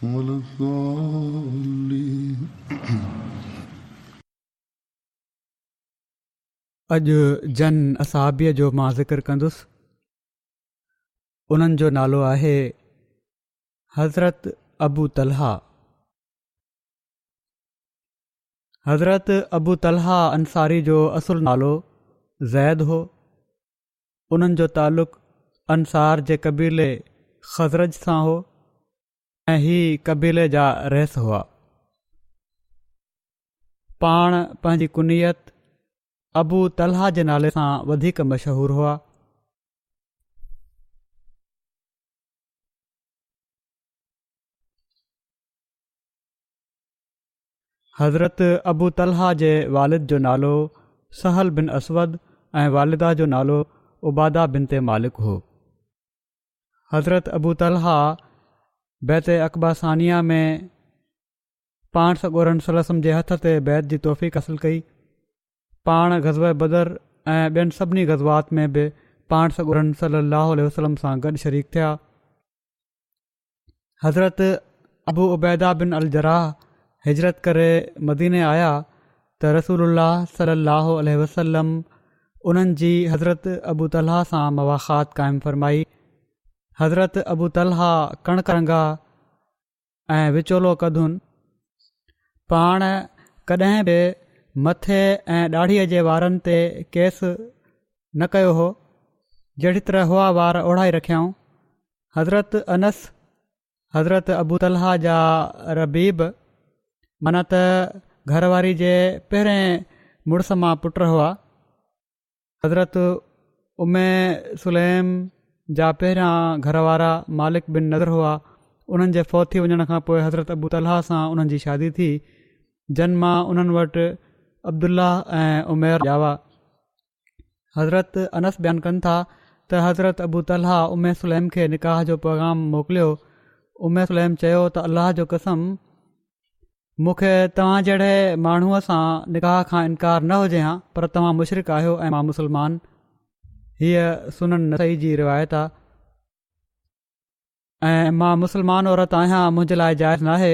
ولا الضالين. اڄ جن اصحابيء جو مان ذڪر ڪندس، انهن جو نالو آهي، حضرت ابو طلحه، حضرت ابو طلحه انصاري جو اصل نالو زيد هو، انهن جو تعلق انصار جي قبيلي خزرج سان هو ۽ هي قبيلي جا رئيس هئا. پاڻ پنهنجي ڪنيت ابو طلحه جي نالي سان وڌيڪ مشهور هئا. حضرت ابو طلحه جي والد جو نالو سهل بن اسود ۽ والده جو نالو عباده بنت مالڪ هو. حضرت ابو طلحه بيعت عقبه ثانيه ۾ پاڻ سڳورن صلي وسلم جي هٿ تي بيعت جي توفيق حاصل ڪئي. پاڻ غزوه بدر ۽ ٻين سڀني غزوات ۾ به پاڻ سڳورن صلي الله عليه وسلم سان گڏ شريڪ ٿيا. حضرت ابو عبيده بن الجراح هجرت ڪري مديني آيا ته رسول الله صلي الله عليه وسلم انهن جي حضرت ابو طلحه سان مواخات قائم فرمائي حضرت ابو طلحه ڪڻڪ رنگا ۽ وچولو قدن پاڻ ڪڏهن به مٿي ۽ ڏاڙهيء جي وارن تي ڪيس نه ڪيو هو جهڙي طرح هئا وار اوڙائي رکيائون حضرت انس، حضرت ابو طلحه جا ربيب معنيٰ ته گهر واري جي پهرين مڙس مان پٽ هئا. حضرت ام سليم جا پهريان گهر وارا مالڪ بن نضر هئا، انهن جي فوت ٿي وڃڻ کان پوء حضرت ابو طلحه سان انهن جي شادي ٿي، جن مان انهن وٽ عبدالله ۽ عمير ڄاوا. حضرت انس بيان ڪن ٿا ته حضرت ابو طلحه ام سليم کي نڪاح جو پيغام موڪليو ام سليم چيو ته الله جو قسم مون کي توهان جهڙي ماڻهوء سان نڪاح کان انڪار نه هجي ها پر توهان مشرق آهيو ۽ مان مسلمان هيء سنن نسائي جي روايت آهي ۽ مان مسلمان عورت آهيان منهنجي لاء جائز ناهي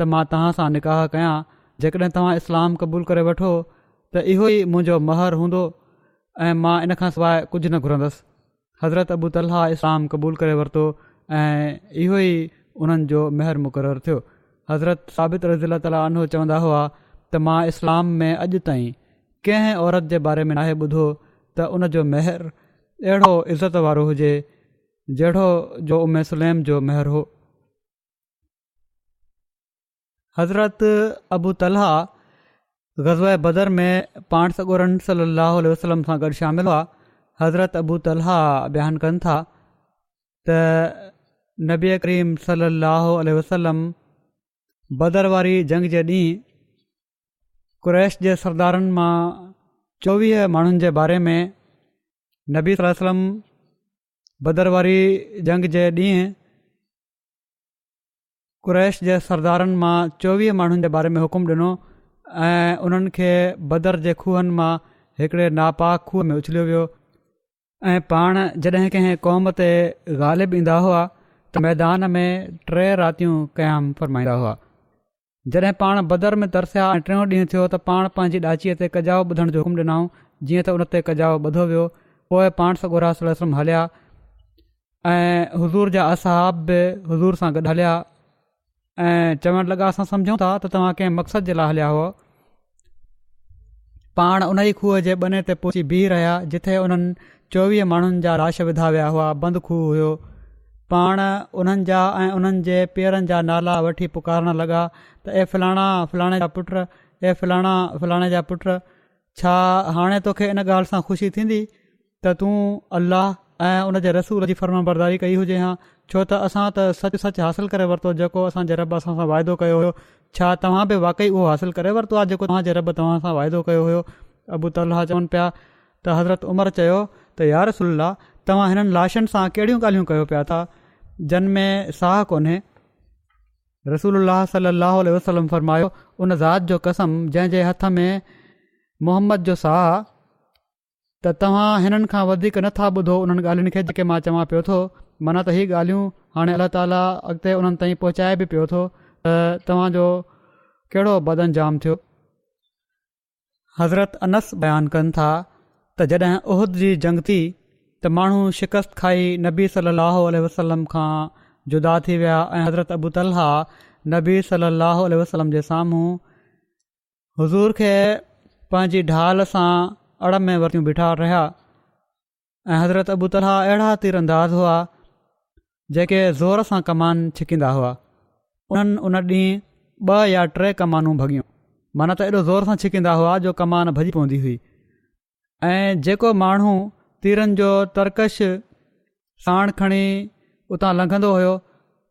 ته مان توهان سان نڪاح ڪيان جيڪڏهن توهان اسلام قبول ڪري وٺو ته اهو ئي منهنجو مهر هوندو ۽ مان ان کان سواء ڪجهه نه گهرندس حضرت ابو طلحه اسلام قبول ڪري ورتو ۽ اهو ئي انهن جو مهر مقرر ٿيو حضرت ثابت رضي الله تعالٰي عنه چوندا هئا ته مان اسلام ۾ اڄ تائين ڪنهن عورت جي باري ۾ ناهي ٻڌو ته ان جو مهر اهڙو عزت وارو هجي جهڙو جو ام سليم جو مهر هو حضرت ابو طلحه غزوه بدر ۾ پاڻ سڳورن صلي الله عليه وسلم سان گڏ شامل هئا حضرت ابو طلحه بيان ڪن ٿا ته نبي ڪريم صلي الله عليه وسلم بدر واري جنگ جي ڏينهن قريش جي سردارن مان چوويهه ماڻهن جي باري ۾ نبي صلي وسلم بدر واري جنگ جي ڏينهن قريش جي سردارن مان چوويهه ماڻهن جي باري ۾ حڪم ڏنو ۽ انهن کي بدر جي کوهن مان هڪڙي ناپاڪ کوهه ۾ اڇليو ويو ۽ پاڻ جڏهن ڪنهن قوم تي غالب ايندا هئا ته ميدان ۾ ٽي راتيون قيام فرمائيندا هئا جڏهن پاڻ بدر ۾ ترسيا ۽ ٽيون ڏينهن ٿيو ته پاڻ پنهنجي ڏاچيء تي ڪجاء ٻڌڻ جو حڪم ڏنائون، جيئن ته ان تي ڪجاء ٻڌو ويو. پوء پاڻ سڳورا صلّي اللّٰه عليه وسلّم هليا ۽ حضور جا اصحاب به حضور سان گڏ هليا ۽ چوڻ لڳا، اسان سمجهون ٿا ته توهان ڪنهن مقصد جي لاء هليا هئا، پاڻ انهيء کوهه جي ٻني تي پهچي بيهي رهيا جتي انهن چوويهه ماڻهن جا لاش وڌا ويا هئا بند کوهه هيو پاڻ انهن جا ۽ انهن جي پيئرن جا نالا وٺي پڪارڻ لڳا ته اي فلاڻا فلاڻي جا پٽ اي فلاڻا فلاڻي جا پٽ ڇا هاڻي توکي ان ڳالهه سان خوشي ٿيندي ته تون الله ۽ ان جي رسول جي فرمانبرداري ڪئي هجي ها، ڇو ته اسان ته سچ سچ حاصل ڪري ورتو جيڪو اسان جي رب اسان سان وعدو ڪيو هيو، ڇا توهان به واقعي اهو حاصل ڪري ورتو آهي جيڪو توهان جي رب توهان سان وعدو ڪيو هيو؟ ابو طلحه چون پيا ته حضرت عمر چيو ته يارسول الله توهان هنن لاشن سان ڪهڙيون ڳالهيون ڪيو پيا ٿا جن ۾ ساهه ڪونهي؟ رسول الله صلي الله عليه وسلم فرمايو، ان ذات جو قسم جنهن جي هٿ ۾ محمد جو ساهه ته توهان هنن کان وڌيڪ نه ٿا ٻڌو انهن ڳالهين کي جيڪي مان چوان پيو ٿو، معنيٰ ته هي ڳالهيون هاڻي الله تعاليٰ اڳتي انهن تائين پهچائي به پيو ٿو ته توهان جو ڪهڙو بدانجام ٿيو. حضرت انس بيان ڪن ٿا ته جڏهن احد جي جنگ ٿي ته ماڻهو شڪست کائي نبي صلّي اللّٰه عليه وسلّم کان جدا ٿي ويا ۽ حضرت ابو طلحه نبي صلّي اللّٰه عليه وسلّم جي سامهون حضور کي پنهنجي ڍال سان اڙ ۾ ورتيون بيٺا رهيا ۽ حضرت ابو طلحا اهڙا تير انداز هئا جيڪي زور سان ڪمان ڇڪيندا هئا انهن ان ڏينهن ٻه يا ٽي ڪمانون ڀڳيون مانا ته ايڏو زور سان ڇڪيندا هئا جو ڪمان ڀڄي پوندي هئي ۽ جيڪو ماڻهو تيرن جو ترڪش ساڻ کڻي اتان لنگهندو هيو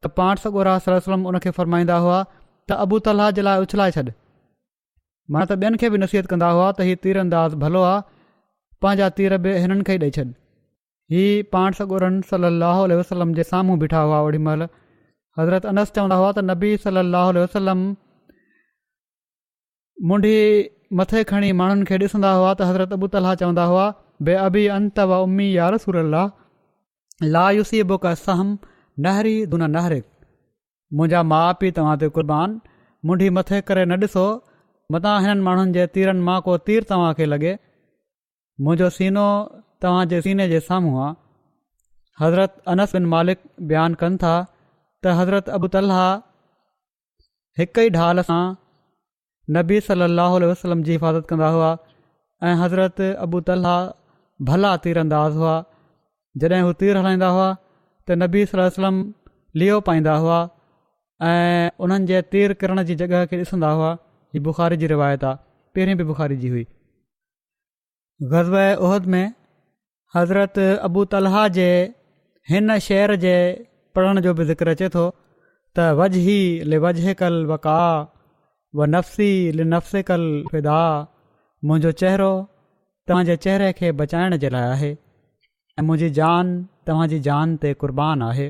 ته پاڻ سڳورا صلي وسلم ان کي فرمائيندا هئا ته ابو طلحه جي لاء اڇلائي ڇڏ مانا ته ٻين کي به نصيحت ڪندا هئا ته هي تير انداز ڀلو آ پنهنجا تير به هنن کي ڏئي ڇڏ هي پاڻ سڳورن صلي الله عليه وسلم جي سامهون بيٺا هئا اوڙي مهل حضرت انس چوندا هئا ته نبي صلي الله عليه وسلم منڍي مٿي کڻي ماڻهن کي ڏسندا هئا ته حضرت ابو طلحه چوندا هئا بي ابي انت و امي يا رسول الله لا يصيبك سهم نهري دون نهرك منهنجا ماء پي توهان تي قربان منڍي مٿي ڪري نه ڏسو متان هنن ماڻهن جي تيرن مان ڪو تير توهان کي لڳي منهنجو سينو توهان جي سيني جي سامهون آ حضرت انس بن مالڪ بيان ڪن ٿا ته حضرت ابو طلحه هڪ ئي ڍال سان نبي صلي الله عليه وسلم جي حفاظت ڪندا هئا ۽ حضرت ابو طلحا ڀلا تير انداز هئا جڏهن هو تير هلائيندا هئا ته نبي صلي الله وسلم ليو پائيندا هئا ۽ انهن جي تير ڪرڻ جي جڳهه کي ڏسندا هئا هي بخاري جي روايت آهي پهرين به بخاري جي هئي غزوه احد ۾ حضرت ابو طلحه جي هن شعر جي پڙهڻ جو به ذڪر اچي ٿو ته وجهي لوجه کل وقا و نفسي لنفس کل فدا منهنجو چهرو تنهنجي چهري کي بچائڻ جي لاء آهي ۽ منهنجي جان توهانجي جان تي قربان آهي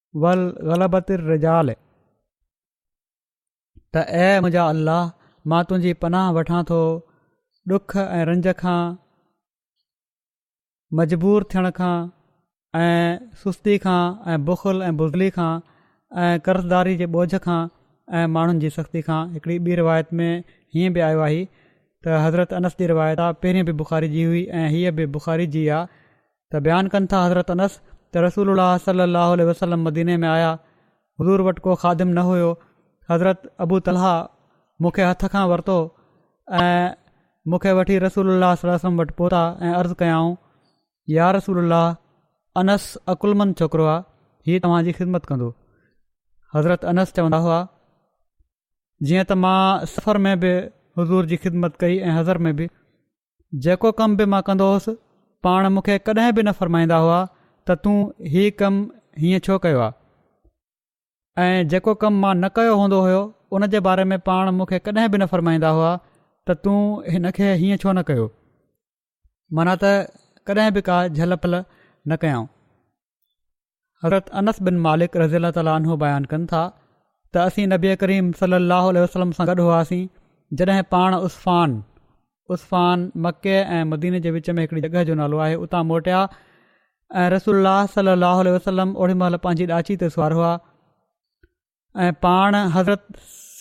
ول غلبت الرجال ته اي منهنجا الله مان تنهنجي پناهه وٺان ٿو ڏک ۽ رنج کان مجبور ٿيڻ کان ۽ سستي کان ۽ بخل ۽ بزلي کان ۽ قرضداري جي ٻوجهه کان ۽ ماڻهن جي سختي کان هڪڙي ٻي روايت ۾ هيئن به آيو آهي ته حضرت انس جي روايت آهي پهرين به بخاري جي هئي ۽ هيء به بخاري جي آهي ته بيان ڪن ٿا حضرت انس ته رسول الله صلي الله عليه وسلم مديني ۾ آيا حضور وٽ ڪو خادم نه هيو حضرت ابو طلحه مون کي هٿ کان ورتو ۽ مون کي وٺي رسول الله صلي وسلم وٽ پهتا ۽ عرض ڪيائون يا رسول الله انس عقلمند ڇوڪرو آ هي توهان جي خدمت ڪندو حضرت انس چوندا هئا جيئن ته مان سفر ۾ به حضور جي خدمت ڪئي ۽ حضر ۾ به جيڪو ڪم به مان ڪندو هوس، پاڻ مون کي ڪڏهن به نه فرمائيندا هئا ته تون هي ڪم هيئن ڇو ڪيو آهي؟ ۽ جيڪو ڪم مان نه ڪيو هوندو هيو، ان جي باري ۾ پاڻ مون کي ڪڏهن به نه فرمائيندا هئا ته تون هن کي هيئن ڇو نه ڪيو؟ معنيٰ ته ڪڏهن به ڪا جهل پل نه ڪيائون. حضرت انس بن مالڪ رضي الله تعالٰي عنه بيان ڪن ٿا ته اسين نبي ڪريم صلي الله عليه وسلم سان گڏ هئاسين جڏهن پاڻ عثفان عثفان مڪي ۽ مديني جي وچ ۾ هڪڙي جڳهه جو نالو آهي اتان موٽيا ۽ رسول الله صلي الله عليه وسلم اوڙي مهل پنهنجي ڏاچي تي سوار هئا ۽ پاڻ حضرت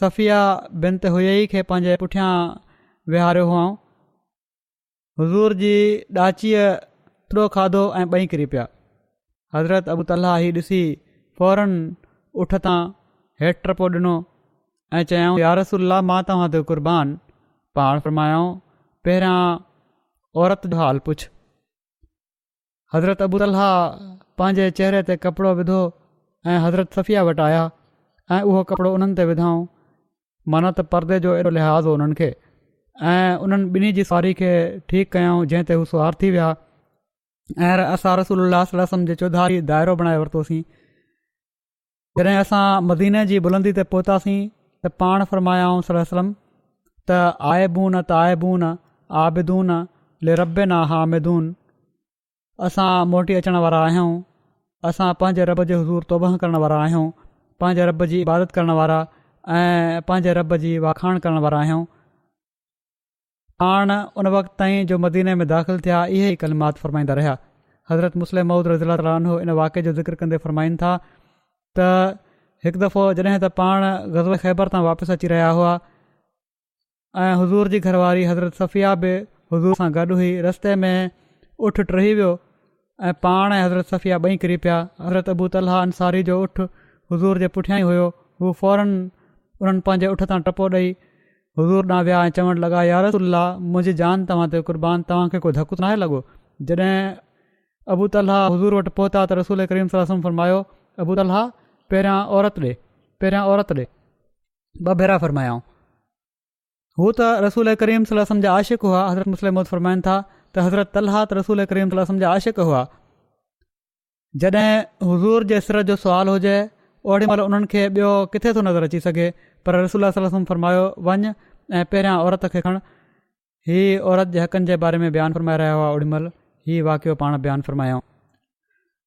صفيه بنت هيئي کي پنهنجي پٺيان ويهاريو هئائون حضور جي ڏاچيء ٿڏو کاڌو ۽ ٻئي ڪري پيا. حضرت ابو طلحه هي ڏسي فورن اٺ تان هيٺ ٽپو ڏنو ۽ چيائون، يا رسول الله مان توهان تي قربان، پاڻ فرمايائون، پهريان عورت جو حال پڇ. حضرت ابو طلحه پنهنجي چهري تي ڪپڙو وڌو ۽ حضرت صفيه وٽ آيا ۽ اهو ڪپڙو انهن تي وڌائون معنيٰ ته پردي جو ايڏو لحاظ هو انهن کي ۽ انهن ٻنهي جي سواري کي ٺيڪ ڪيائون جنهن تي هو سوار ٿي ويا ۽ اسان رسول الله صلي الله وسلم جي چوڌاري دائرو بڻائي ورتوسين جڏهن اسان مديني جي بلندي تي پهتاسين ته پاڻ فرمايائون صلي وسلم ته آئبون تائبون عابدون لربنا حامدون اسان موٽي اچڻ وارا آهيون اسان پنهنجي رب جي حضور توبه ڪرڻ وارا آهيون پنهنجي رب جي عبادت ڪرڻ وارا ۽ پنهنجي رب جي واکاڻ ڪرڻ وارا آهيون پاڻ ان وقت تائين جو مديني ۾ داخل ٿيا اهي ئي ڪلمات فرمائيندا رهيا حضرت مسلم موعود رضي الله تعالٰي عنه ان واقعي جو ذڪر ڪندي فرمائين ٿا ته هڪ دفعو جڏهن ته پاڻ غزوه خيبر تان واپس اچي رهيا هئا ۽ حضور جي گهر واري حضرت صفيه به حضور سان گڏ هئي رستي ۾ اٺ ٽهي ويو ۽ پاڻ ۽ حضرت صفيه ٻئي ڪري پيا، حضرت ابو طلحه انصاري جو اٺ حضور جي پٺيان ئي هيو، هو فوراً انهن پنهنجي اٺ تان ٽپو ڏئي حضور ڏانهن ويا ۽ چوڻ لڳا يا رسول الله منهنجي جان توهان تي قربان توهان کي ڪو ڌڪ ته ناهي لڳو، جڏهن ابو طلحه حضور وٽ پهتا ته رسول ڪريم صلعم وسلم فرمايو ابو طلحه پهريان عورت ڏي پهريان عورت ڏي ٻه ڀيرا فرمايائون. هو ته رسول ڪريم صلي الله عليه وسلم جا عاشق هئا حضرت مسلم موت فرمائن ٿا ته حضرت طلحه رسول ڪريم صلي الله عليه وسلم جا عاشق هئا جڏهن حضور جي سرت جو سوال هجي اوڙي مهل انهن کي ٻيو ڪٿي ٿو نظر اچي سگهي پر رسول الله صلي الله عليه وسلم فرمايو وڃ ۽ پهريان عورت کي کڻ هي عورت جي حقن جي باري ۾ بيان فرمائي رهيا هئا اوڙي مهل هي واقعو پاڻ بيان فرمايائون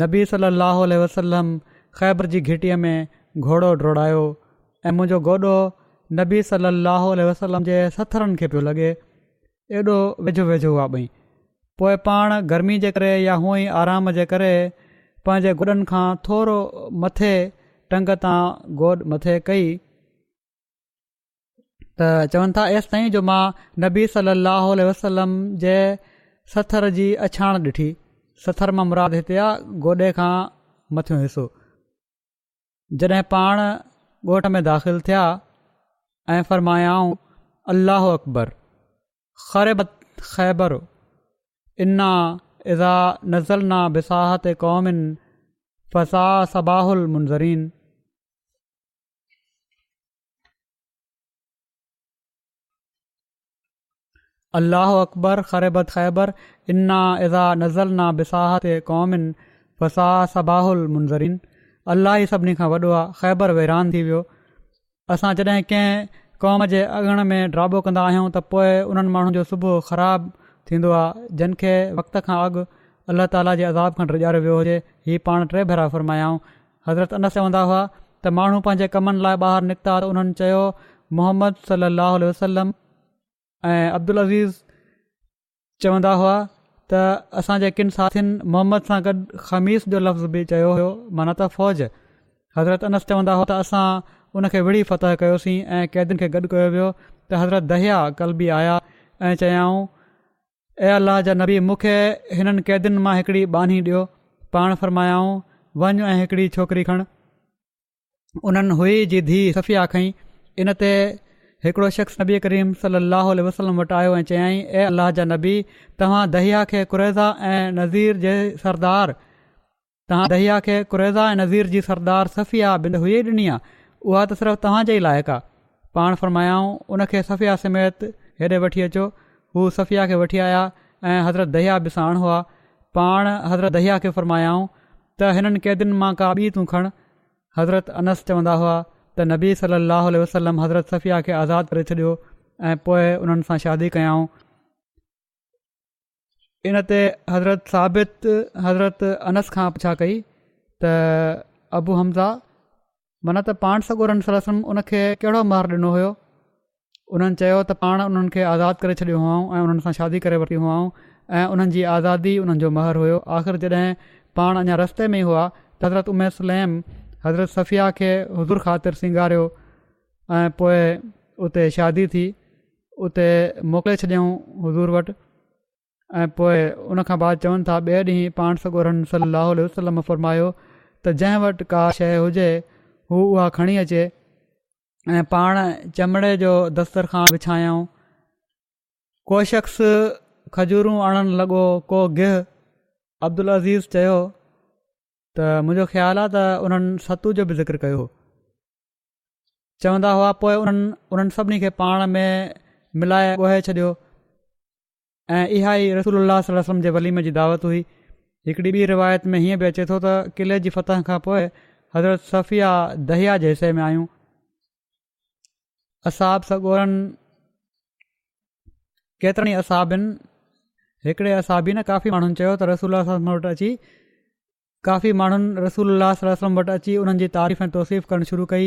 نبي صلّي اللّٰه عليه وسلّم خيبر جي گهٽيء ۾ گهوڙو ڊوڙايو ۽ منهنجو گوڏو نبي صلّي اللّٰه عليه وسلّم جي سٿرن کي پيو لڳي، ايڏو ويجهو ويجهو هئا ٻئي. پوء پاڻ گرمي جي ڪري يا هونء ئي آرام جي ڪري پنهنجي گوڏن کان ٿورو مٿي ٽنگ تان گوڏ مٿي ڪئي، ته چون ٿا ايستائين جو مان نبي صلي الله عليه وسلم جي سٿر جي اڇاڻ ڏٺي سٿر مان مراد هتي آ گوڏي کان مٿيون حصو جڏهن پاڻ ڳوٺ ۾ داخل ٿيا ۽ فرمايائون الله اڪبر خربت خيبر انا اذا نزلنا بساحت قوم فسا صباح المنظرين الله اڪبر خربت خيبر انا اذا نزلنا بساحت قوم فسا صباح المنظرين الله ئي سڀني کان وڏو آهي خيبر ويران ٿي ويو اسان جڏهن ڪنهن قوم جي اڱڻ ۾ ڊرابو ڪندا آهيون ته پوء انهن ماڻهن جو صبح خراب ٿيندو آهي جن کي وقت کان اڳ الله تعالي جي عذاب کان ڊڄاريو ويو هجي هي پاڻ ٽي ڀيرا فرمايائون حضرت انس چوندا هئا ته ماڻهو پنهنجي ڪمن لاء ٻاهر نڪتا ته انهن چيو محمد صلي الله عليه وسلم ۽ عبدالعزيز چوندا هئا ته اسان جي ڪن ساٿين محمد سان گڏ خميس جو لفظ به چيو هيو معنيٰ ته فوج حضرت انس چوندا هئا ته اسان ان کي وڙهي فتح ڪيوسين ۽ قيدين کي گڏ ڪيو ويو ته حضرت دهيا ڪلبي آيا ۽ چيائون اي الله جا نبي مون کي هنن قيدين مان هڪڙي ٻانهي ڏيو پاڻ فرمايائون وڃ ۽ هڪڙي ڇوڪري کڻ انهن هئي جي ڌي صفيا کئي ان تي هڪڙو شخص نبي ڪريم صلي الله عليه وسلم وٽ آيو ۽ چيائين اي الله جا نبي توهان دهيا کي قريضا ۽ نذير جي سردار تنهن دحيا کي قريظه ۽ نضير جي سردار صفيه بنت حيي ڏني آ، اها ته صرف توهان جي ئي لائق آ. پاڻ فرمايائون، ان کي صفيه سميت هيڏي وٺي اچو. هو صفيه کي وٺي آيا ۽ حضرت دحيا به ساڻ هئا. پاڻ حضرت دحيا کي فرمايائون ته هنن قيدين مان ڪا ٻي تون کڻ. حضرت انس چوندا هئا ته نبي صلّي اللّٰه عليه وسلّم حضرت صفيه کي آزاد ڪري ڇڏيو ۽ پوء انهن سان شادي ڪيائون. ان تي حضرت ثابت حضرت انس کان پڇا ڪئي ته ابو حمزا من ته پاڻ سڳورن صلي وسلم ان کي ڪهڙو مهر ڏنو هيو انهن چيو ته پاڻ انهن کي آزاد ڪري ڇڏيو هئائون ۽ انهن سان شادي ڪري ورتي هئائون ۽ انهن جي آزادي انهن جو مهر هيو آخر جڏهن پاڻ اڃا رستي ۾ هئا ته حضرت امي سليم حضرت صفيه کي حضور خاطر سينگاريو ۽ پوء اتي شادي ٿي اتي موڪلي ڇڏيائون حضور وٽ ۽ پوء ان کان بعد چون ٿا ٻئي ڏينهن پاڻ سڳورن صلّي اللّٰه عليه وسلّم فرمايو ته جنهن وٽ ڪا شيء هجي هو اها کڻي اچي ۽ پاڻ چمڙي جو دسترخوان وڇايائون ڪو شخص کجورون آڻڻ لڳو ڪو گهه عبدالعزيز چيو ته منهنجو خيال آهي ته انهن ستو جو به ذڪر ڪيو هو چوندا هئا پوء انهن انهن سڀني کي پاڻ ۾ ملائي ڳوهي ڇڏيو ۽ اها ئي رسول الله صلي الله وسلم جي وليمي جي دعوت هئي هڪڙي ٻي روايت ۾ هيئن به اچي ٿو ته قلعي جي فتح کان پوء حضرت صفيه دهيا جي حصي ۾ آيون اصحاب سڳورن ڪيترن ئي اصحابن هڪڙي اصحابي نه ڪافي ماڻهن چيو ته رسول الله صلي الله وسلم وٽ اچي ڪافي ماڻهن رسول الله صلي الله عليه وسلم وٽ اچي انهن جي تعريف ۽ توصيف ڪرڻ شروع ڪئي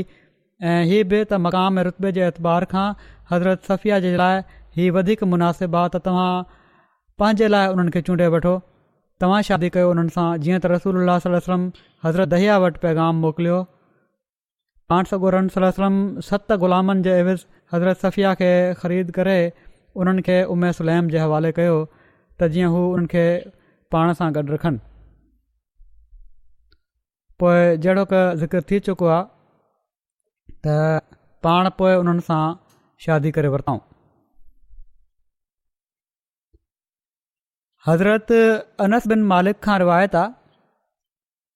۽ هي به ته مقام ۽ رتبي جي اعتبار کان حضرت صفيه جي لاء هي وڌيڪ مناسب آ ته توهان پنهنجي لاء انهن کي چونڊي وٺو توهان شادي ڪيو انهن سان جيئن ته رسول الله صلي الله عليه وسلم حضرت دحيه وٽ پيغام موڪليو پاڻ سڳورن صلّي الله عليه وسلّم ست غلامن جي عيوض حضرت صفيه کي خريد ڪري انهن کي ام سليم جي حوالي ڪيو ته جيئن هو انهن کي پاڻ سان گڏ رکن پوء جهڙوڪ ذڪر ٿي چڪو آهي ته پاڻ پوء انهن سان شادي ڪري ورتائون حضرت انس بن مالڪ کان روايت آ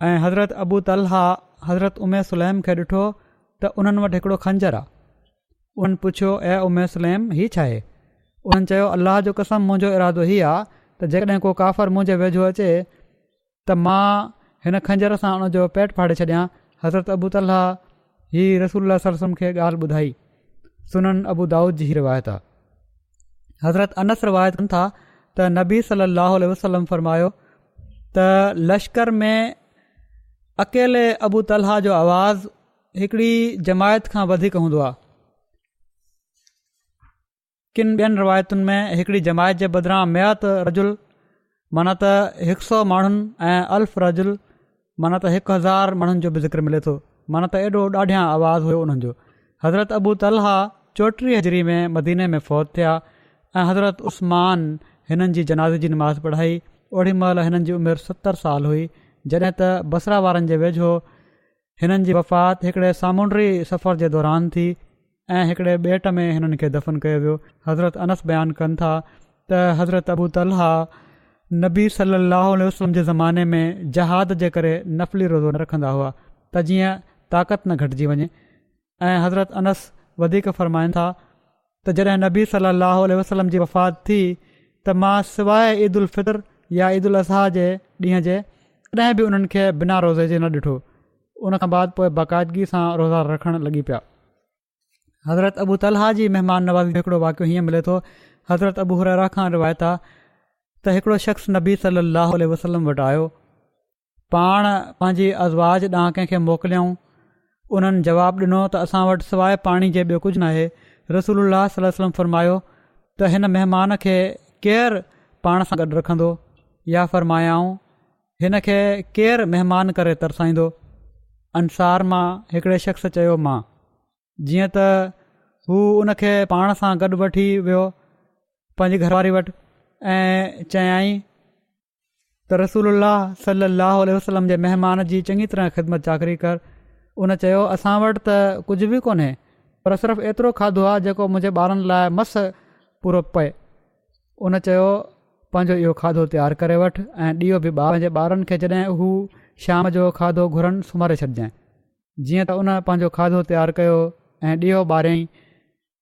۽ حضرت ابو طلحه حضرت ام سليم کي ڏٺو ته انهن وٽ هڪڙو خنجر آ. انهن پڇيو اي ام سليم هي ڇا آهي؟ انهن چيو الله جو قسم منهنجو ارادو هي آ ته جيڪڏهن ڪو ڪافر منهنجي ويجهو اچي ته مان هن خنجر سان ان جو پيٽ ڦاڙي ڇڏيان حضرت ابو طلحه هي رسول الله صلي الله عليه وسلم کي ڳالهه ٻڌائي سنن ابودائود جي هي روايت آهي حضرت انس روايت ڪن ٿا ته نبي صلي الله عليه وسلم فرمايو ته لشڪر ۾ اڪيلي ابو طلحه جو آواز هڪڙي جماعت کان وڌيڪ هوندو آهي ڪن ٻين روايتن ۾ هڪڙي جماعت جي بدران مئات رجل معنيٰ ته هڪ سؤ ماڻهن ۽ الف رجل معنيٰ ته هڪ هزار ماڻهن جو به ذڪر ملي ٿو معنيٰ ته ايڏو ڏاڍيان آواز هيو انهن جو حضرت ابو طلحه چوٽيهه هجري ۾ مديني ۾ فوت ٿيا ۽ حضرت عثمان هنن جي جنازي جي نماز پڙهائي اوڙي مهل هنن جي عمر ستر سال هئي جڏهن ته بصره وارن جي ويجهو هنن جي وفات هڪڙي سامونڊي سفر جي دوران ٿي ۽ هڪڙي ٻيٽ ۾ هنن کي دفن ڪيو ويو. حضرت انس بيان ڪن ٿا ته حضرت ابو طلحه نبي صلي الله عليه وسلم جي زماني ۾ جهاد جي ڪري نفلي روزو نه رکندا هئا ته جيئن طاقت نه گهٽجي وڃي ۽ حضرت انس وڌيڪ فرمائن ٿا ته جڏهن نبي صلي الله عليه وسلم جي وفات ٿي ته مان سواء عيد الفطر يا عيد الاضحيٰ جي ڏينهن جي ڪڏهن به انهن کي بنا روزي جي نه ڏٺو ان کان بعد پوء باقاعدگي سان روزا رکڻ لڳي پيا حضرت ابو طلحه جي مهمان نوازي جو هڪڙو واقعو هيئن ملي ٿو حضرت ابو حريرا خان روايت آ ته هڪڙو شخص نبي صلي الله عليه وسلم وٽ آيو پاڻ پنهنجي ازواج ڏانهن ڪنهن کي موڪليائون؟ انهن جواب ڏنو ته اسان وٽ سواء پاڻي جي ٻيو ڪجهه ناهي. رسول الله صلي الله عليه وسلم فرمايو ته هن مهمان کي ڪير پاڻ سان گڏ رکندو يا فرمايائون هن کي ڪير مهمان ڪري ترسائيندو؟ انصار مان هڪڙي شخص چيو مان. جيئن ته هو ان کي پاڻ سان گڏ وٺي ويو پنهنجي گهر واري وٽ ۽ چيائين ته رسول الله صلي الله عليه وسلم جي مهمان جي چڱي طرح خدمت چاڪري ڪر ان چيو اسان وٽ ته ڪجهه به ڪونهي پر صرف ايترو کاڌو آهي جيڪو منهنجي ٻارن لاء مس پورو پئي ان چيو پنهنجو اهو کاڌو تيار ڪري وٺ ۽ ڏيئو به ٻار جي ٻارن کي جڏهن هو شام جو کاڌو گهرن سمهاري ڇڏجانء جيئن ته ان پنهنجو کاڌو تيار ڪيو ۽ ڏيئو ٻاريائين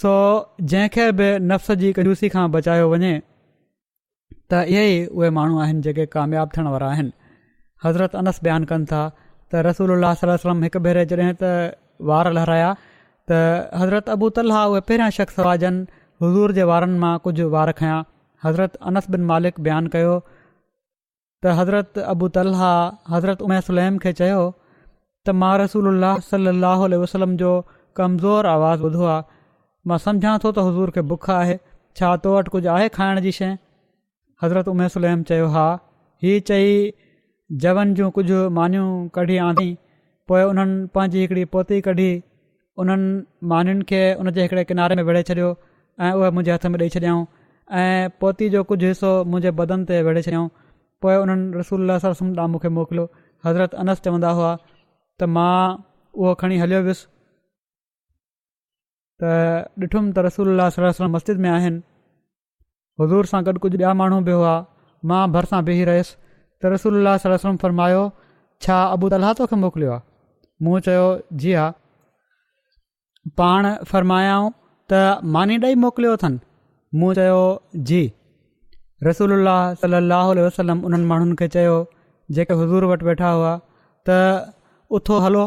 سو جنهن کي به نفس جي ڪنجوسي کان بچايو وڃي ته اهي ئي اهي ماڻهو آهن جيڪي ڪامياب ٿيڻ وارا آهن حضرت انس بيان ڪن ٿا ته رسول الله صلي الله وسلم هڪ ڀيري جڏهن ته وار لهرايا ته حضرت ابو طلحا اهي پهريان شخص هئا جن حضور جي وارن مان ڪجهه وار کنيا حضرت انس بن مالڪ بيان ڪيو ته حضرت ابو طلحه حضرت ام سليم کي چيو ته مان رسول الله صلي الله عليه وسلم جو ڪمزور آواز ٻڌو آهي مان سمجهان ٿو ته حضور کي بک آهي ڇا تو وٽ ڪجهه آهي کائڻ جي شين حضرت ام سليم چيو ها هي چئي جون ڪجهه مانيون ڪڍي آندي پوء انهن پنهنجي هڪڙي پوتي ڪڍي انهن مانين کي ان جي هڪڙي ڪناري ۾ ويڙهي ڇڏيو ۽ اهي منهنجي هٿ ۾ ڏئي ڇڏيائون ۽ پوتي جو ڪجهه حصو منهنجي بدن تي ويڙهي ڇڏيائون پوء انهن رسول الله صلي وسلم ڏانهن مون کي موڪليو حضرت انس چوندا هئا ته مان اهو کڻي هليو ويس ته ڏٺم ته رسول الله صلي وسلم مسجد ۾ آهن حضور سان گڏ ڪجهه ٻيا ماڻهو به هئا مان ڀرسان بيهي رهيس ته رسول الله صلي الله عليه وسلم فرمايو ڇا ابو طلحه توکي موڪليو آهي مون چيو جي ها پاڻ فرمايائون ته ماني ڏئي موڪليو اٿن مون چيو جي رسول الله صلي الله عليه وسلم انهن ماڻهن کي چيو جيڪي حضور وٽ ويٺا هئا ته اٿو هلو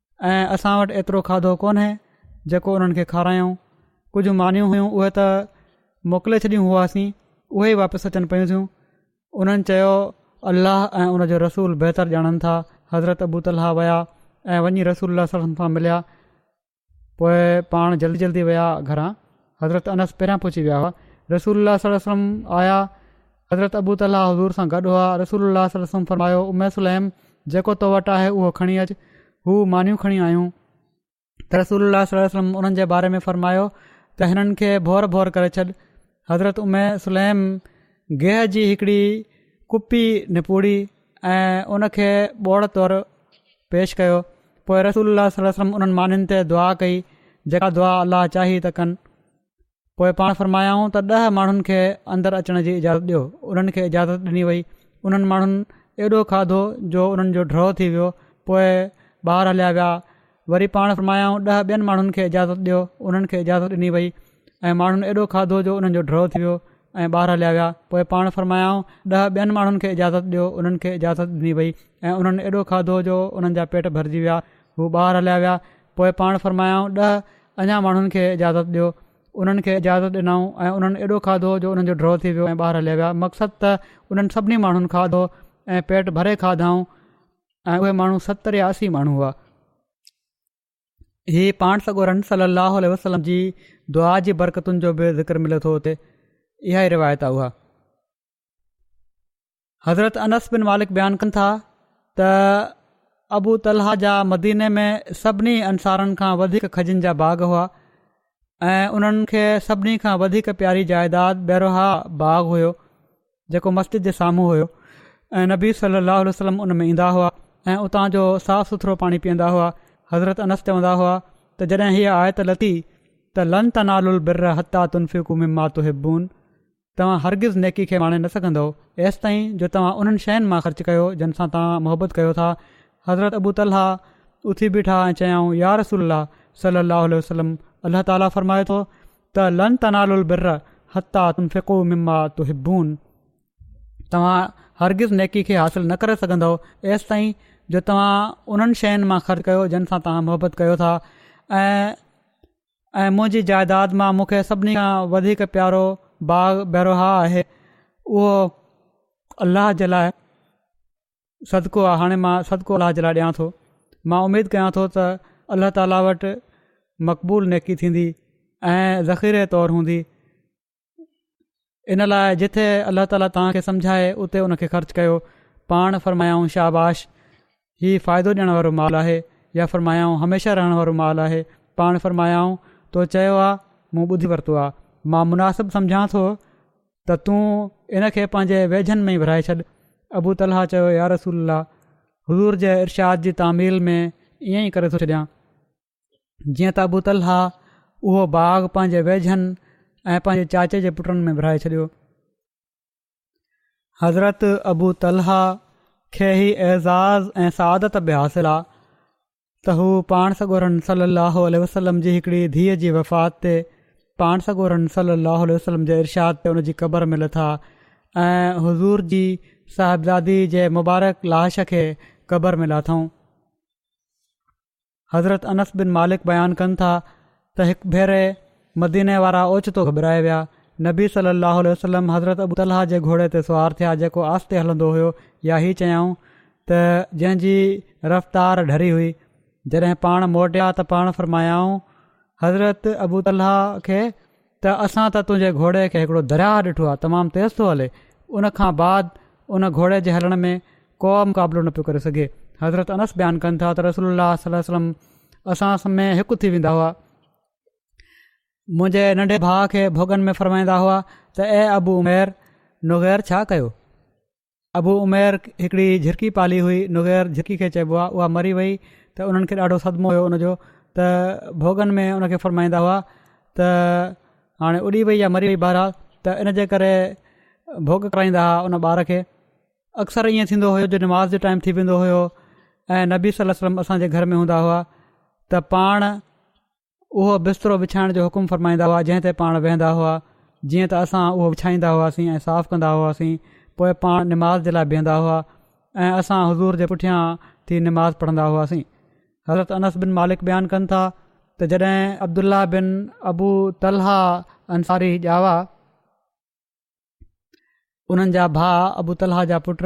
۽ اسان وٽ ايترو کاڌو ڪونهي جيڪو انهن کي کارايون ڪجهه مانيون هيون اهي ته موڪلي ڇڏيون هئاسين اهي ئي واپس اچن پيون ٿيون انهن چيو الله ۽ ان جو رسول بهتر ڄاڻن ٿا حضرت ابو طلحه ويا ۽ وڃي رسول الله صلي سان مليا پوء پاڻ جلدي جلدي ويا گهران حضرت انس پهريان پهچي ويا هئا رسول الله صلي وسلم آيا حضرت ابو طلحه حضور سان گڏ هئا، رسول الله صلي الله عليه وسلم فرمايو، ام سليم! جيڪو تو وٽ آهي اهو کڻي اچ، هو مانيون کڻي آيون ته رسول الله صلي الله عليه وسلم انهن جي باري ۾ فرمايو ته هنن کي ڀور ڀور ڪري ڇڏ، حضرت ام سليم گيهه جي هڪڙي ڪپي نپوڙي ۽ ان کي ٻوڙ طور پيش ڪيو، پوء رسول الله صلي الله عليه وسلم انهن مانين تي دعا ڪئي، جيڪا دعا الله چاهي ته ڪن. پوء پاڻ فرمايائون ته ڏهه ماڻهن کي اندر اچڻ جي اجازت ڏيو انهن کي اجازت ڏني وئي انهن ماڻهن ايڏو کاڌو جو انهن جو ڊرو ٿي ويو پوء ٻاهر هليا ويا وري پاڻ فرمايائون ڏهه ٻين ماڻهن کي اجازت ڏيو انهن کي اجازت ڏني وئي ۽ ماڻهن ايڏو کاڌو جو انهن جو ڊرو ٿي ويو ۽ ٻاهر هليا ويا پوء پاڻ فرمايائون ڏهه ٻين ماڻهن کي اجازت ڏيو انهن کي اجازت ڏني وئي ۽ انهن ايڏو کاڌو جو انهن جا پيٽ ڀرجي ويا هو ٻاهر هليا ويا پوء پاڻ فرمايائون، ڏهه اڃا ماڻهن کي اجازت ڏيو. انهن کي اجازت ڏنائون ۽ انهن ايڏو کاڌو جو انهن جو ڊرو ٿي ويو ۽ ٻاهر هليا ويا. مقصد ته انهن سڀني ماڻهن کاڌو ۽ پيٽ ڀري کاڌائون ۽ اهي ماڻهو ستر يا اسي ماڻهو هئا. هي پاڻ سڳورن صلّي اللّٰه عليه وسلّم جي دعا جي برڪتن جو به ذڪر ملي ٿو اتي اها ئي روايت آهي اها. حضرت انس بن مالڪ بيان ڪن ٿا ته ابو طلحه جا مديني ۾ سڀني انصارن کان وڌيڪ کجين جا باغ هئا ۽ انهن کي سڀني کان وڌيڪ پياري جائيداد بيروها باغ هيو جيڪو مسجد جي سامهون هيو ۽ نبي صلي الله عليه وسلم ان ۾ ايندا هئا ۽ اتان جو صاف سٿرو پاڻي پيئندا هئا حضرت انس چوندا هئا ته جڏهن هيء آيت لٿي ته لن تنال البر حتا تنفقو مما تحبون توهان هرگز نيڪي کي ماڻي نه سگهندؤ ايستائين جو توهان انهن شين مان خرچ ڪيو جن سان توهان محبت ڪيو ٿا حضرت ابو طلحه اٿي بيٺا ۽ چيائون يا رسول الله صلي الله عليه وسلم الله تعالي فرمائي ٿو ته لن تنالوا البر حتي تنفقوا مما تحبون توهان هرگز نيڪي کي حاصل نه ڪري سگهندؤ ايستائين جو توهان انهن شين مان خرچ ڪيو جن سان توهان محبت ڪيو ٿا ۽ ۽ منهنجي جائداد مان مون کي سڀني کان وڌيڪ پيارو باغ بيروهاء آهي اهو الله جي لاء صدقو آهي هاڻي مان صدقو الله جي لاء ڏيان ٿو مان اميد ڪيان ٿو ته الله تعاليٰ وٽ مقبول نيڪي ٿيندي ۽ ذخيري طور هوندي ان لاء جتي الله تعالي توهان کي سمجهائي اتي ان کي خرچ ڪيو پاڻ فرمايائون شاباش هي فائدو ڏيڻ وارو مال آهي يا فرمايائون هميشه رهڻ وارو مال آهي پاڻ فرمايائون تو چيو آهي مون ٻڌي ورتو آهي مان مناسب سمجهان ٿو ته تون ان کي پنهنجي ويجهن ۾ ورهائي ڇڏ ابو طلحا چيو يا رسول الله حضور جي ارشاد جي تعميل ۾ ائين ئي ڪري ٿو ڇڏيان جيئن ته ابو طلحه اهو باغ پنهنجي ويجهن ۽ پنهنجي چاچي جي پٽن ۾ ورهائي ڇڏيو حضرت ابو طلحه کي هي اعزاز ۽ سعادت به حاصل آ ته هو پاڻ سڳورن صلي الله عليه وسلم جي هڪڙي ڌيء جي وفات تي پاڻ سڳورن صلي الله عليه وسلم جي ارشاد تي ان جي قبر ۾ لٿا ۽ حضور جي صاحبزادي جي مبارڪ لاش کي قبر ۾ لاٿائون حضرت انس بن مالڪ بيان ڪن ٿا ته هڪ ڀيري مديني وارا اوچتو گهٻرائي ويا نبي صلي الله عليه وسلم حضرت ابو طلحه جي گهوڙي تي سوار ٿيا جيڪو آستي هلندو هيو يا هي چيائون ته جنهن جي رفتار ڍري هئي جڏهن پاڻ موٽيا ته پاڻ فرمايائون حضرت ابو طلحه کي ته اسان ته تنهنجي گهوڙي کي هڪڙو درياهه ڏٺو آهي تمام تيز ٿو هلي ان کان بعد ان گهوڙي جي هلڻ ۾ ڪو مقابلو نه پيو ڪري سگهي حضرت انس بيان ڪن ٿا ته رسول الله صلي الله وسلم اسان سمي هڪ ٿي ويندا هئا منهنجي ننڍي ڀاء کي ڀوڳن ۾ فرمائيندا هئا ته اي ابو عمير نغير ڇا ڪيو ابو عمير هڪڙي جهرڪي پالي هئي نغير جهرڪي کي چئبو آهي اها مري وئي ته انهن کي ڏاڍو صدمو هيو ان جو ته ڀوڳن ۾ ان کي فرمائيندا هئا ته هاڻي اڏي وئي يا مري وئي بهرحال ته ان جي ڪري ڀوڳ ڪرائيندا هئا ان ٻار کي اڪثر ائين ٿيندو هيو جو نماز جو ٽائيم ٿي ويندو هيو ۽ نبي صليم اسان جي گهر ۾ هوندا هئا ته پاڻ اهو بسترو وڇائڻ جو حڪم فرمائيندا هئا جنهن تي پاڻ ويهندا هئا جيئن ته اسان اهو وڇائيندا هئاسين ۽ صاف ڪندا هئاسين پوء پاڻ نماز جي لاء بيهندا هئا ۽ اسان حضور جي پٺيان ٿي نماز پڙهندا هئاسين حضرت انس بن مالڪ بيان ڪن ٿا ته جڏهن عبدالله بن ابو طلحا انصاري ڄاوا انهن جا ڀاء ابو طلحا جا پٽ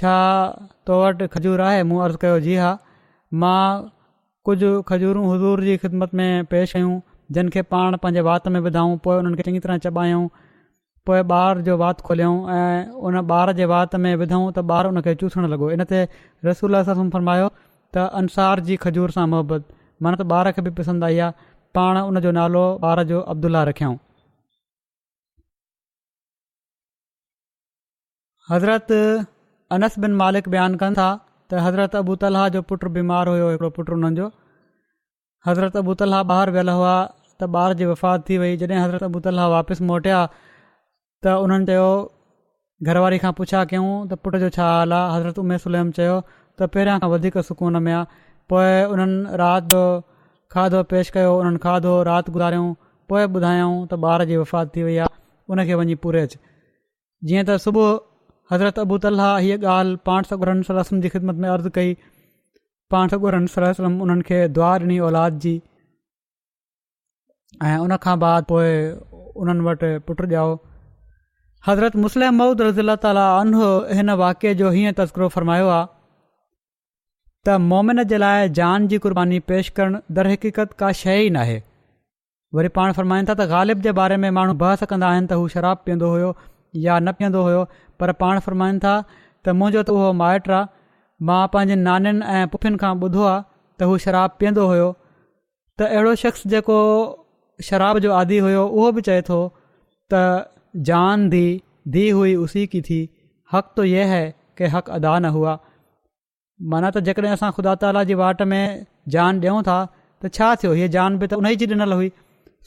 ڇا تو وٽ کجور آهي؟ مون عرض ڪيو، جي ها. مان ڪجهه کجورون حضور جي خدمت ۾ پيش ڪيون، جن کي پاڻ پنهنجي وات ۾ وڌائون، پوء انهن کي چڱي طرح چٻايائون، پوء ٻار جو وات کوليائون ۽ ان ٻار جي وات ۾ وڌائون ته ٻار ان کي چوسڻ لڳو. ان تي رسول الله صلي الله عليه وسلم فرمايو ته انصار جي کجور سان محبت معنيٰ ته ٻار کي به پسند آئي آهي. پاڻ ان جو نالو ٻار جو عبدالله رکيائون. حضرت انس بن مالڪ بيان ڪن ٿا ته حضرت ابو طلحه جو پٽ بيمار هيو هڪڙو پٽ انهن جو حضرت ابو طلحه ٻاهر ويل هئا ته ٻار جي وفات ٿي وئي جڏهن حضرت ابو طلحه واپس موٽيا ته انهن چيو گهر واري کان پڇا ڪيون ته پٽ جو ڇا حال آهي حضرت امي سليم چيو ته پهريان کان وڌيڪ سڪون ۾ آهي پوء انهن رات جو کاڌو پيش ڪيو انهن کاڌو رات گذاريون پوء ٻڌايائون ته ٻار جي وفات ٿي وئي آهي ان کي وڃي پوري اچ جيئن ته صبح حضرت ابو طلحه هيء ڳالهه پاڻ سڳورن صلي الله وسلم جي خدمت ۾ عرض ڪئي پاڻ سڳورن صلي الله وسلم انهن کي دعا ڏني اولاد جي ۽ ان کان بعد پوء انهن وٽ پٽ ڄائو حضرت مسلم محمود رضي الله تعالیٰ انه هن واقعي جو هيئن تذڪرو فرمايو آ ته مومن جي لاء جان جي قرباني پيش ڪرڻ در حقيقت ڪا شيء ئي ناهي وري پاڻ فرمائن ٿا ته غالب جي باري ۾ ماڻهو بحث ڪندا آهن ته هو شراب پيئندو هيو يا نه پيئندو هيو پر پاڻ فرمائن ٿا ته منهنجو ته اهو مائٽ آ مان پنهنجين نانين ۽ پڦين کان ٻڌو آ ته هو شراب پيئندو هيو ته اهڙو شخص جيڪو شراب جو عادي هيو اهو به چئي ٿو ته جان دي دي هئي اسي ڪي ٿي حق تو يه هي ڪي حق ادا نه هئا معنيٰ ته جيڪڏهن اسان خدا تعاليٰ جي واٽ ۾ جان ڏيون ٿا ته ڇا ٿيو هيء جان به ته ان جي ڏنل هئي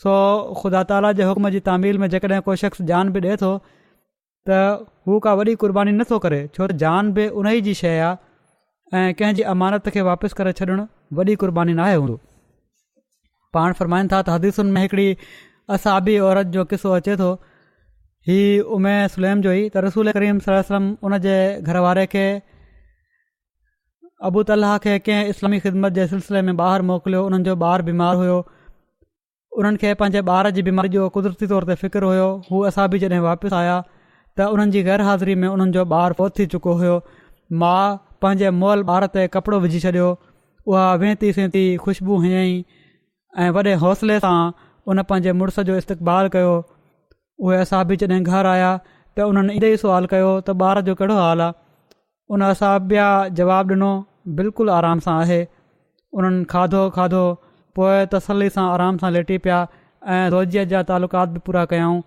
سو خدا تعاليٰ جي حڪم جي تعميل ۾ جيڪڏهن ڪو شخص جان به ڏئي ٿو ته هو ڪا وڏي قرباني نٿو ڪري ڇو ته جان به ان جي شيء آهي ۽ ڪنهن جي امانت کي واپس ڪري ڇڏڻ وڏي قرباني ناهي هوندو پاڻ فرمائن ٿا ته حديثن ۾ هڪڙي اصحابي عورت جو قصو اچي ٿو هي امي سليم جو ئي ته رسول ڪريم صلي وسلم ان جي گهر واري کي ابو طلحه کي ڪنهن اسلامي خدمت جي سلسلي ۾ ٻاهر موڪليو انهن جو ٻار بيمار هيو انهن کي پنهنجي ٻار جي بيماري جو قدرتي طور تي فڪر هيو هو اصحابي جڏهن واپس آيا ته انهن جي غير حاضري ۾ انهن جو ٻار فوت ٿي چڪو هيو ماء پنهنجي مئل ٻار تي ڪپڙو وجهي ڇڏيو اها وينتي سينتي خوشبو هنئي ۽ وڏي حوصلي سان ان پنهنجي مڙس جو استقبال ڪيو اهي اصحابي جڏهن گهر آيا ته انهن ايندي ئي سوال ڪيو ته ٻار جو ڪهڙو حال آ ان اصحابيا جواب ڏنو بلڪل آرام سان آهي انهن کاڌو کاڌو پوء تسلي سان آرام سان ليٽي پيا ۽ روزيء جا تعلقات به پورا ڪيائون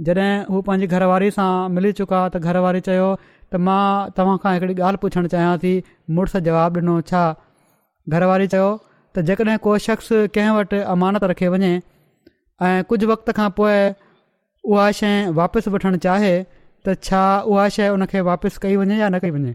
جڏهن هو پنهنجي گهر واري سان ملي چڪا ته گهر واري چيو ته مان توهان کان هڪڙي ڳالهه پڇڻ چاهيان ٿي مڙس جواب ڏنو ڇا؟ گهر واري چيو ته جيڪڏهن ڪو شخص ڪنهن وٽ امانت رکي وڃي ۽ ڪجهه وقت کان پوء اها شي واپس وٺڻ چاهي ته ڇا اها شي ان کي واپس ڪئي وڃي يا نه ڪئي وڃي؟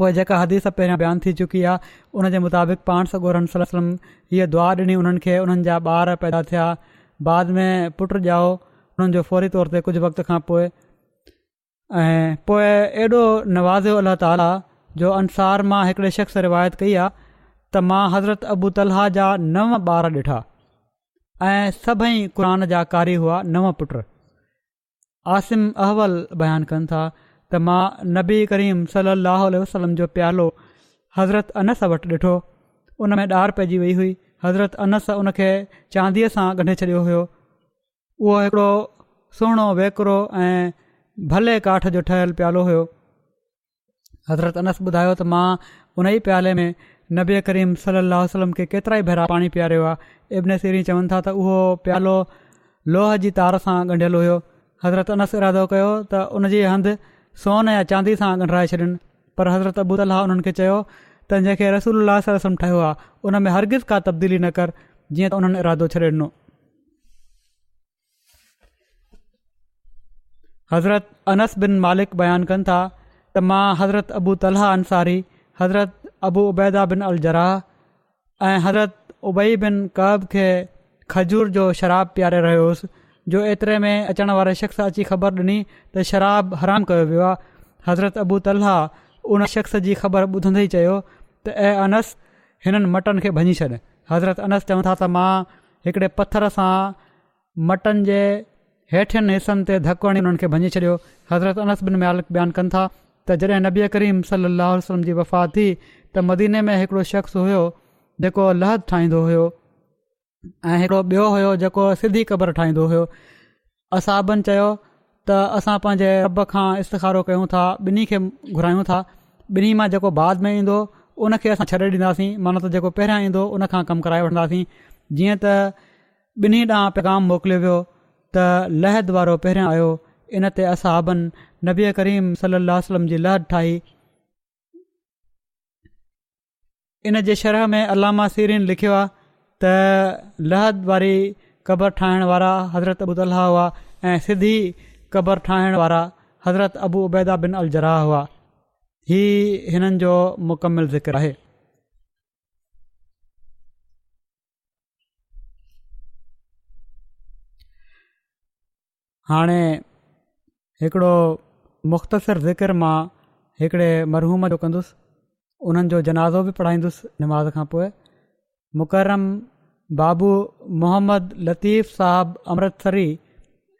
پوء جيڪا حديث پهريان بيان ٿي چڪي آهي ان جي مطابق پاڻ سڳورن صلي وسلم هيء دعا ڏني انهن کي انهن جا ٻار پيدا ٿيا بعد ۾ پٽ ڄائو انهن جو فوري طور تي ڪجهه وقت کان پوء ۽ پوء ايڏو نوازيو الله تعاليٰ جو انصار مان هڪڙي شخص روايت ڪئي آهي ته مان حضرت ابو طلحا جا نو ٻار ڏٺا ۽ سڀئي قرآن جا قاري هئا نو پٽ عاصم احول بيان ڪن ٿا ته مان نبي ڪريم صلي الله عليه وسلم جو پيالو حضرت انس وٽ ڏٺو ان ۾ ڏار پئجي وئي هئي حضرت انس ان کي چانديء سان ڳنڍي ڇڏيو هيو اهو هڪڙو سهڻو ويڪرو ۽ ڀلي ڪاٺ جو ٺهيل پيالو هيو حضرت انس ٻڌايو ته مان ان ئي پيالي ۾ نبي ڪريم صلي الله عليه وسلم کي ڪيترا ئي ڀيرا پاڻي پياريو آهي. ابن سيرين چون ٿا ته اهو پيالو لوهه جي تار سان ڳنڍيل هيو. حضرت انس ارادو ڪيو ته ان جي هنڌ سون يا چاندي سان ڳنڍرائي ڇڏين پر حضرت ابو طلحه انهن کي چيو ته جنهن کي رسول الله صلي الله عليه وسلم ٺاهيو آهي ان ۾ هرگز ڪا تبديلي نه ڪر جيئن ته انهن ارادو ڇڏي ڏنو. حضرت انس بن مالڪ بيان ڪن ٿا ته مان حضرت ابو طلحه انصاري حضرت ابو عبيدا بن الجراح ۽ حضرت ابئي بن قب کي کجور جو شراب پياري رهيو هوس جو ايتري ۾ اچڻ واري شخص اچي خبر ڏني ته شراب حرام ڪيو ويو آهي حضرت ابو طلحه ان شخص جي خبر ٻڌندي چيو ته اي انس هنن مٽن کي ڀڃي ڇڏ حضرت انس چون ٿا ته مان هڪڙي پٿر سان مٽن جي هيٺين حصن تي ڌڪ هڻي انهن کي ڀڃي ڇڏيو. حضرت انس بن مالڪ بيان ڪن ٿا ته جڏهن نبي ڪريم صلي الله عليه وسلم جي وفات ٿي ته مديني ۾ هڪڙو شخص هيو جيڪو لحد ٺاهيندو هيو ۽ هڪڙو ٻيو هيو جيڪو سڌي قبر ٺاهيندو هيو اصحابن چيو ته اسان پنهنجي رب کان استخارو ڪيون ٿا ٻنهي کي گهرايون ٿا ٻنهي مان جيڪو بعد ۾ ايندو ان کي اسان ڇڏي ڏينداسين مانو ته جيڪو پهريان ايندو ان کان ڪم ڪرائي وٺنداسين جيئن ته ٻنهي ڏانهن پيغام موڪليو ويو ته لحد وارو پهريان آيو ان تي اصحابن نبي ڪريم صلي الله وسلم جي لحد ٺاهي ان جي شرح ۾ علامه سيرين لکيو آهي ته لحد واري قبر ٺاهڻ وارا حضرت ابو طلحه هئا ۽ سڌي قبر ٺاهڻ وارا حضرت ابو عبيده بن الجراح هئا هي هنن جو مڪمل ذڪر آهي هاڻي هڪڙو مختصر ذڪر مان هڪڙي مرحوم جو ڪندس انهن جو جنازو به پڙهائيندس نماز کان پوء مڪرم بابو محمد لطيف صاحب امرتسري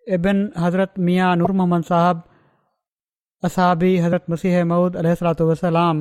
ابن حضرت ميان نور محمد صاحب اصحابي حضرت مسيح محود عليه السلاط وسلام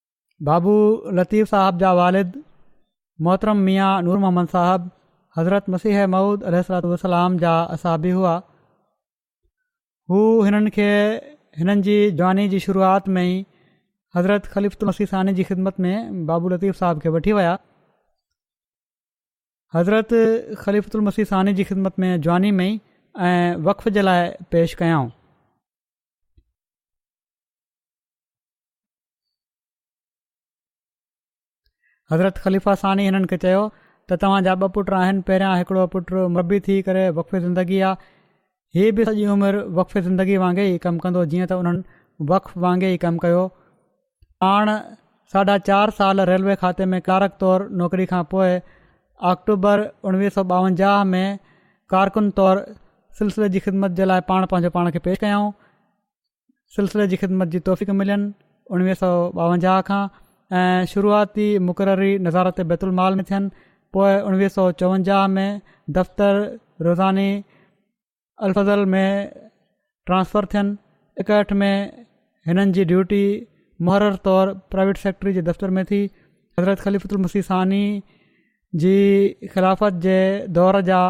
بابو لطيف صاحب جا والد محترم ميان نور محمد صاحب حضرت مسيح مود عليه السلاط والسلام جا اصابي هئا هو هنن کي هنن جي جواني جي شروعات ۾ ئي حضرت خليفت مسيح ثاني جي خدمت ۾ بابو لطيف صاحب کي وٺي ويا حضرت خليفت المسيح ثاني جي خدمت ۾ جواني ۾ وقف جي لاء پيش ڪيائون حضرت خليفه ثاني هنن کي چيو ته توهان جا ٻه پٽ آهن پهريان هڪڙو پٽ مربي ٿي ڪري وقف زندگي آ هي به سڄي عمر وقف زندگي وانگي ئي ڪم ڪندو جيئن ته انهن وقف وانگي ئي ڪم ڪيو پاڻ ساڍا چار سال ريلوي کاتي ۾ ڪلارڪ طور نوڪري کان پوء آڪٽوبر اڻويهه سو ٻاونجاهه ۾ ڪارڪن طور سلسلي جي خدمت جي لاء پاڻ پنهنجو پاڻ کي پيش ڪيائون سلسلي جي خدمت جي توفيق ملين اڻويهه سؤ ٻاونجاهه کان ۽ شروعاتي مقرري نظارت بيت المال ۾ ٿين پوء اڻويهه سؤ چوونجاهه ۾ دفتر روزاني الفضل ۾ ٽرانسفر ٿين اڪهٺ ۾ هنن جي ڊيوٽي محرر طور پرائيويٽ سيڪريٽري جي دفتر ۾ ٿي حضرت خليفت المسيح ثاني جي خلافت جي دور جا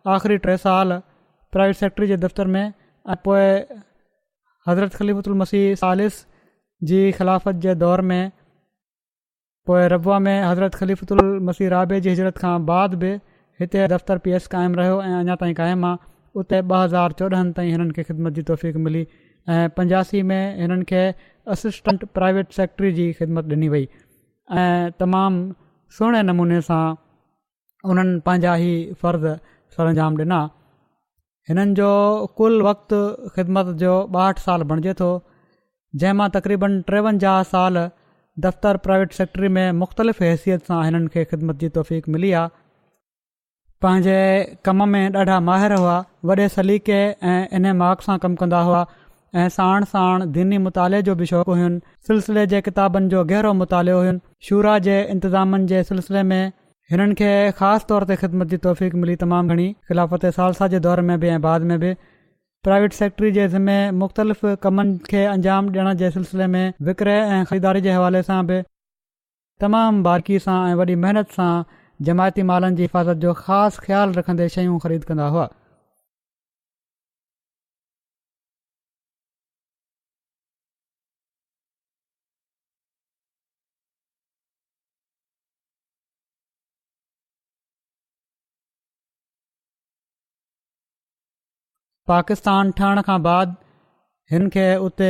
آخري ٽي سال پرائيويٽ سيڪريٽري جي دفتر ۾ ۽ پوء حضرت خليفة المسيح ثالث جي خلافت جي دور ۾ پوء ربوه ۾ حضرت خليفة المسيح رابع جي هجرت کان بعد به هتي دفتر پي ايس قائم رهيو ۽ اڃا تائين قائم آهي اتي 2014 تائين هنن کي خدمت جي توفيق ملي ۽ 85 ۾ هنن کي اسسٽنٽ پرائيويٽ سيڪريٽري جي خدمت ڏني وئي ۽ تمام سهڻي نموني سان انهن پنهنجا هي فرض سرانجام ڏنا. هنن جو ڪل وقت خدمت جو ٻاهٺ سال بڻجي ٿو، جنهن مان تقريباً ٽيونجاهه سال دفتر پرائيويٽ سيڪريٽري ۾ مختلف حيثيت سان هنن کي خدمت جي توفيق ملي آهي. پنهنجي ڪم ۾ ڏاڍا ماهر هئا وڏي سليقي ۽ انهماڪ سان ڪم ڪندا هئا ۽ ساڻ ساڻ ديني مطالعي جو به شوق هين سلسلي جي ڪتابن جو گهرو مطالعو هين شورا جي انتظامن جي سلسلي ۾ هنن کي خاص طور تي خدمت جي توفيق ملي تمام گهڻي خلافت ثالثه جي دور ۾ به ۽ بعد ۾ به پرائيويٽ سيڪريٽري جي ذمي مختلف ڪمن کي انجام ڏيڻ جي سلسلي ۾ وڪري ۽ خريداري جي حوالي سان به تمام بارڪي سان ۽ وڏي محنت سان جماعتي مالن جي حفاظت جو خاص خيال رکندي شيون خريد ڪندا هئا. پاڪستان ٺهڻ کان بعد هن کي اتي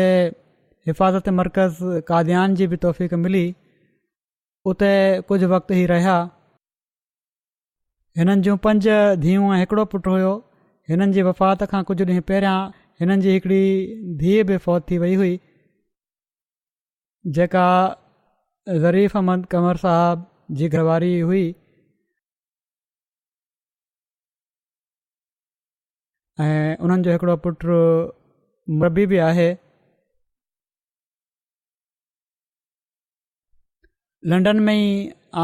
حفاظت مرڪز قاديان جي به توفيق ملي اتي ڪجهه وقت هي رهيا هنن جون پنج ڌيون ۽ هڪڙو پٽ هيو هنن جي وفات کان ڪجهه ڏينهن پهريان هنن جي هڪڙي ڌيء به فوت ٿي وئي هئي جيڪا ظريف احمد قمر صاحب جي گهر واري هئي ۽ انهن جو هڪڙو پٽ مربي به آهي لنڊن ۾ ئي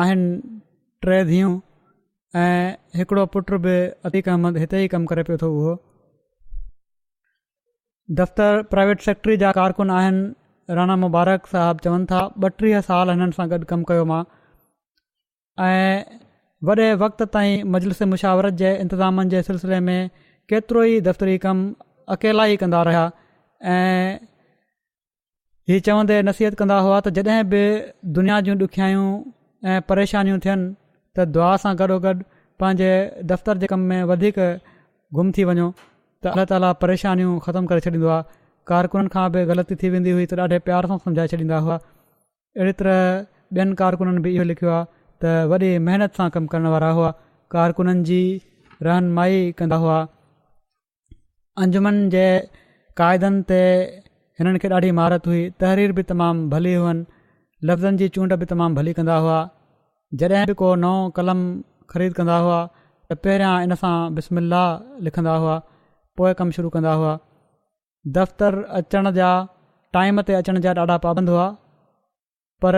آهن ٽي ڌيئون ۽ هڪڙو پٽ به عتيق احمد هتي ئي ڪم ڪري پيو ٿو اهو دفتر پرائيويٽ سيڪٽري جا ڪارڪن آهن رانا مبارڪ صاحب چون ٿا ٻه ٽيهه سال هنن سان گڏ ڪم ڪيو مان ۽ وڏي وقت تائين مجلس مشاورت جي انتظامن جي سلسلي ۾ ڪيترو ئي دفتري ڪم اڪيلا ئي ڪندا رهيا ۽ هي چوندي نصيحت ڪندا هئا ته جڏهن به دنيا جون ڏکيائيون ۽ پريشانيون ٿين ته دعا سان گڏوگڏ پنهنجي دفتر جي ڪم ۾ وڌيڪ گم ٿي وڃو ته الله تعاليٰ پريشانيون ختم ڪري ڇڏيندو آهي ڪارڪنن کان به غلطي ٿي ويندي هئي ته ڏاڍي پيار سان سمجهائي ڇڏيندا هئا اهڙي طرح ٻين ڪارڪنن به اهو لکيو آهي ته وڏي محنت سان ڪم ڪرڻ وارا هئا، ڪارڪنن جي رهنمائي ڪندا هئا. انجمن جي قاعدن تي هنن کي ڏاڍي مهارت هئي، تحرير به تمام ڀلي هئن، لفظن جي چونڊ به تمام ڀلي ڪندا هئا. جڏهن به ڪو نئون قلم خريد ڪندا هئا ته پهريان ان سان بسم الله لکندا هئا، پوء ڪم شروع ڪندا هئا. دفتر اچڻ جا ٽائيم تي اچڻ جا ڏاڍا پابند هئا پر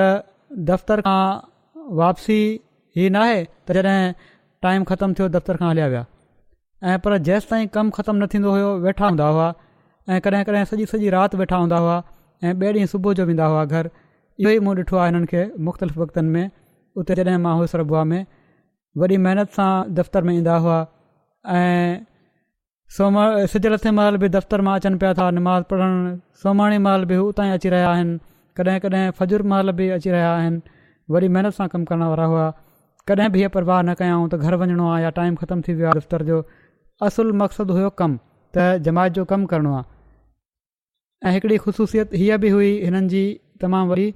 دفتر کان واپسي هي ناهي ته جڏهن ٽائيم ختم ٿيو دفتر کان هليا ويا ۽ پر جيستائين ڪم ختم نه ٿيندو هيو ويٺا هوندا هئا ۽ ڪڏهن ڪڏهن سڄي سڄي رات ويٺا هوندا هئا ۽ ٻئي ڏينهن صبح جو ويندا هئا گهر اهو ئي مون ڏٺو آهي هنن کي مختلف وقتن ۾ اتي جڏهن مان هوس ربوا ۾ وڏي محنت سان دفتر ۾ ايندا هئا ۽ سج لٿي مهل به دفتر مان اچن پيا ٿا نماز پڙهڻ، سومهاڻي مهل به هو اتان ئي اچي رهيا آهن، ڪڏهن ڪڏهن فجر مهل به اچي رهيا آهن، وڏي محنت سان ڪم ڪرڻ وارا هئا، ڪڏهن به هيء پرواهه نه ڪيائون ته گهر وڃڻو آهي يا ٽائيم ختم ٿي ويو آهي دفتر جو، اصل مقصد هيو ڪم، ته جماعت جو ڪم ڪرڻو آهي. ۽ هڪڙي خصوصيت هيء به هئي هنن جي تمام وڏي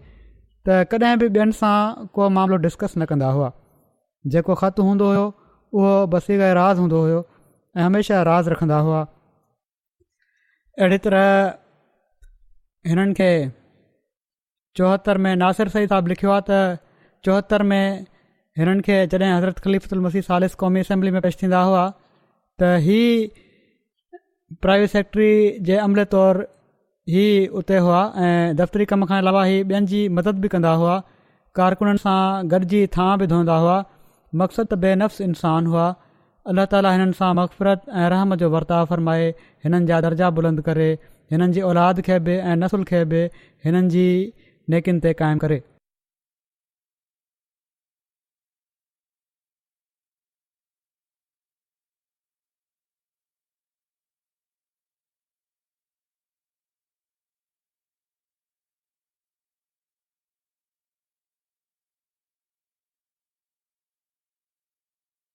ته ڪڏهن به ٻين سان ڪو معاملو ڊسڪس نه ڪندا هئا جيڪو خط هوندو هيو اهو بصيغ راز هوندو هيو ۽ هميشه راز رکندا هئا اهڙي طرح هنن کي چوهتر ۾ ناصر سيد صاحب لکيو آهي ته چوهتر ۾ هنن کي جڏهن حضرت خليفت المسيح سالس قومي اسيمبلي ۾ پيش ٿيندا هئا ته هي پرائيويٽ سيڪريٽري جي عملي طور هي اتي هئا ۽ دفتري ڪم کان علاوه هي ٻين جي مدد به ڪندا هئا ڪارڪنن سان گڏجي ٿانء به ڌوندا هئا مقصد ته بي نفس انسان هئا الله تعاليٰ هنن سان مغفرت ۽ رحم جو ورتاء فرمائي هنن جا درجا بلند ڪري هنن جي اولاد کي به ۽ نسل کي به هنن جي نيڪين تي قائم ڪري.